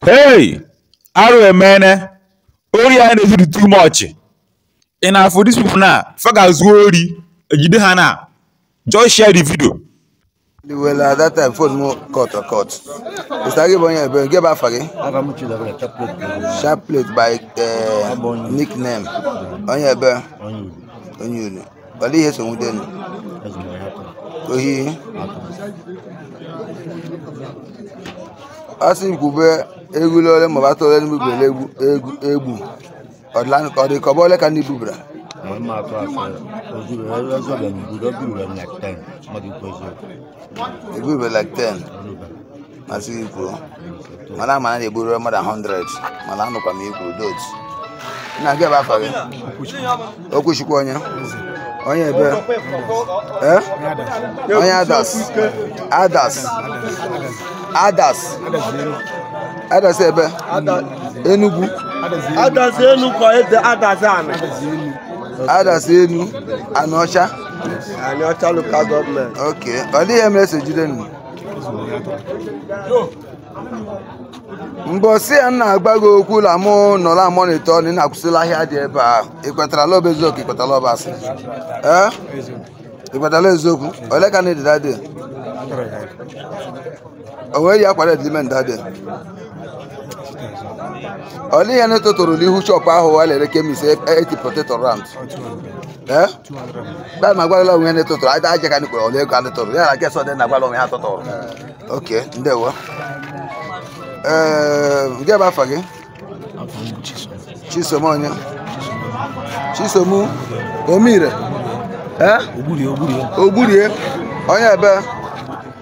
hey arụ emene ori anyị na-ezu dị too much ị na-afụ dis people na fa ga-ezu ori ejide ha na just share the video Well, at that time, phone mụ cut or cut. Ị sị na ị bụ onye ebee? Gịnị bụ afa gị. Sharp plate bụ uh, nickname. Onye ebee. Onye. Olee ihe e so nwude unu. Ohi. Asị kwube ewu ole ma ọ bụ atụrụ ole unu bubere ewu ewu ewu ọ dịlanụ ka ọ dị ka ọ bụ ole ka unu bubara M ama atụ asị ozuru ezobere m buru oburu m like 10 mmadụ ikwu eziokwu. ewu bubere like 10 m asị gị kwuru mana ama m na ị eburula more than 100 mana anụkwa m ihe i kwuru dot nna gịnị bụ afa gị okwuchukwu onye onye ebee eh? onye adazi adazi adazi adazi ebee enugwu adazi enu kwa ede adazi ana adazi enu anaocha anaocha local government okay olee ihe mere e so jide unu mbọsị ya nna agwa gị okwu la mụ nọ la amonitor na ị na-akwụsịla ahịa dị ebe a ị kwetara la ọ bụ eziokwu ị kwetara la ọ bụ asị ee ị kwetara la ọ eziokwu ole ka unu dị that day o nwere ya kwara edime that day olee ihe unu tụtụrụ n'ihu shop ahụ wa la-ere chemist eti poteto rand Eh? Bịa ma gwara onwe ndị tụtụrụ aja aja ka ndị kpọrọ ole ka unu tụrụ ya na nke sọdị na gwara onwe ha tụtụrụ okay ndewo ee eh, gịnị bụ afa gị chisom onye chisom omire eh? ogburie onye ebee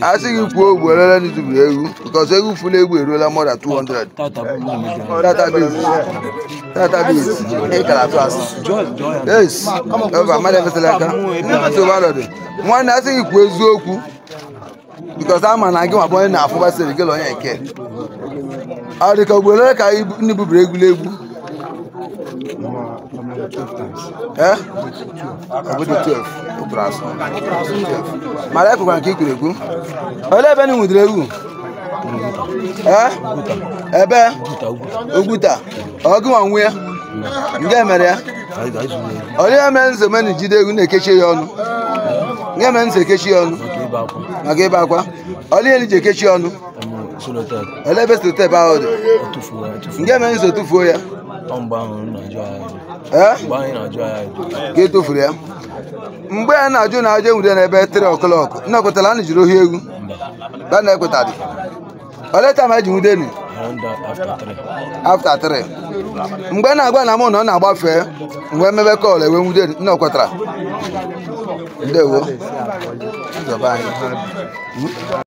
a sị gị kwuo ugboro ole unu buburu ewu because ewu fula efu eruola more than 200 database database ị ka na-atụ asị yes eva mmadụ efesịla aka nsogbu adịghị nwanne a sị gị kwuo eziokwu because ama m na gị nwa bụ onye na-afụbasịrị gị na onye nke ọ dị ka ugboro ole ka ibu- unu buburu ewu Eh? ọ ga-adị 12 ị tụrụ asị mana ekwekwa m nke i kwuru ekwu olee ebe unu nwudere ewu ee ebe oguta ọ gị nwa nwe ya gịnị mere ya olee ihe unu ji eme unu jide ewu na-ekechi ya ọnụ gịnị mere unu ji ekechi ya ọnụ maka ibe akwa olee ihe unu ji ekechi ya ọnụ olee ebe sellotape ahụ dị gịnị mere unu ji tufuo ya ee mgbe anyị na-ajụ ya ajụ ka e tofuru ya mgbe a na-ajụ na ajụ enwude n'ebe 3 o'clock nna ekwetara a na-ejiri ohi egwu ka nna ekwetadị olee taa ma eji nwude ni after 3 mgbe a na-agwa na mụ na ọ na-agbafe mgbe emebe call e wee nwude ni, nna ekwetara ndewo Nzọba anyị.